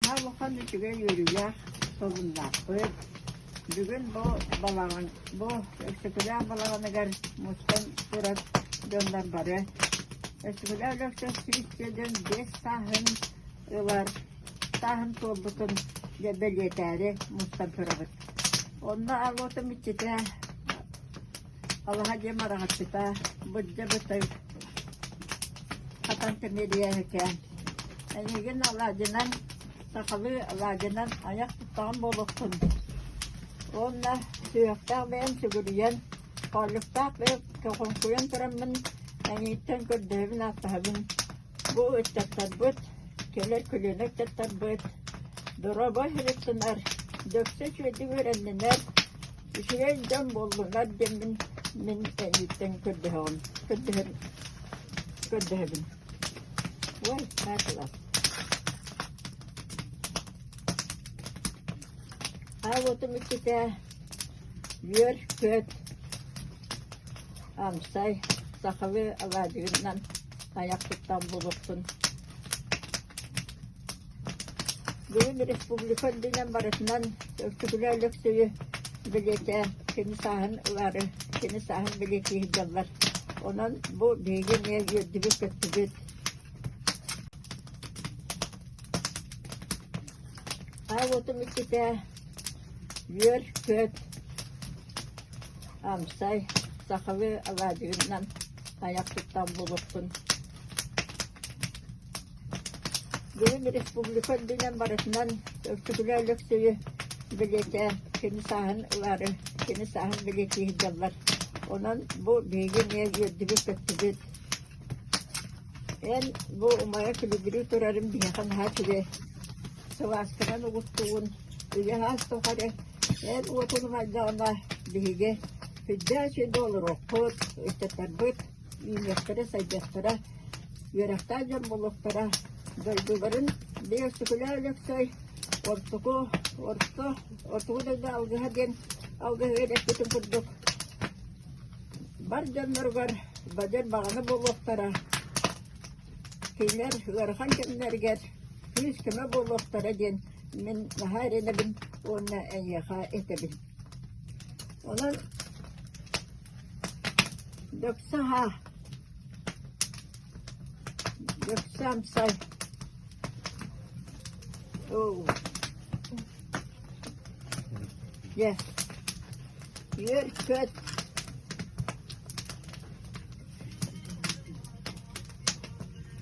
Наһаа улахан үчүгэй үөрүүлээх сонуннаахпыт. Бүгүн бу балаҕан, бу Өксөкүлээх балаҕаныгар мустан турар дьоннор бары Өксөкүлээх Өлөксөскүүс диэн биэс сааһын ылар сааһын туолбутун дьэ бэлиэтээри мустан турабыт. Онно Алота Миччитэ Алаһа диэм араҥаччыта, бырдьа бытый, хатан кэмиэрийээһикээн. Эйигин алаадьынан, сахалыы алаадьынан айах туттаҕын буолуохтун. Уонна сүһүөхтээх бэйэм сүгүрүйэн, хоолуктаах бэйэм көҕүҥкуйан тураммын, мэҥииттэн көрдөһөбүн-ааттаһабын Бу ыччаттарбыт, кэлэр көлүөнэ ыччаттарбыт доруобай харчынар, дөксө үчүгэйдик үөрэннинэр, үчүгэй дьон буоллунар диэммин мин эйииттэн көрдөһөҕүм, көрдөһөр, көрдөһөбүн. Ой, наатылар. Аавотум иккитэ үөр, күөт, амсай, сахалыы алаадьыгынан Тайах туттан булукпун. Бүгүн республика үрдүнэн барытынан Өксөкүлэ Өлөксөйү билиэтэ, кини сааһын ылары, кини сааһын билиэти иһдэллэр. Онон бу биһиги эмиэ үөрдүбүт-көттүбүт. А вот иккитэ Үөр-күөт, амсай, сахалыы алаадьыгынан айах туттан булукпун Били республика үрдүнэн барытынан Өркүтүлэ Өлөксөйү бэлиэтээн, кини сааһын ылаары, кини сааһын бэлиэтии сылдьаллар. Онон бу биһиги эмиэ үөрдүбүт-көттүбүт. Эн бу умайа күлүгүрүү турарын биһиэхэ наһаа үчүгэй. сылаасканан угуттугун, үгэһэ суох эрэ, эр уотун умайдаҕына, биһиги күддээчи да олоруохпут, ыччаттарбыт үүнүөхтэрэ-сайдыахтара, үөрэхтээх дьон буолуохтара, дойдуларын биир Өксөкүлээ Өлөксөй ортоку, орто, ортоку дойду алгыһа диэн алгыһы эрэппитин курдук, бар дьонноругар бадьар баҕана буолуохтара, Кинилэр ыарахан кэмнэригэр күүс-көмө буолуохтара диэн мин наһаа эрэнэбин уонна эйиэхэ этэбин. Онон дьахса аһа, дьахса амсай Дьэ, үөр-көт.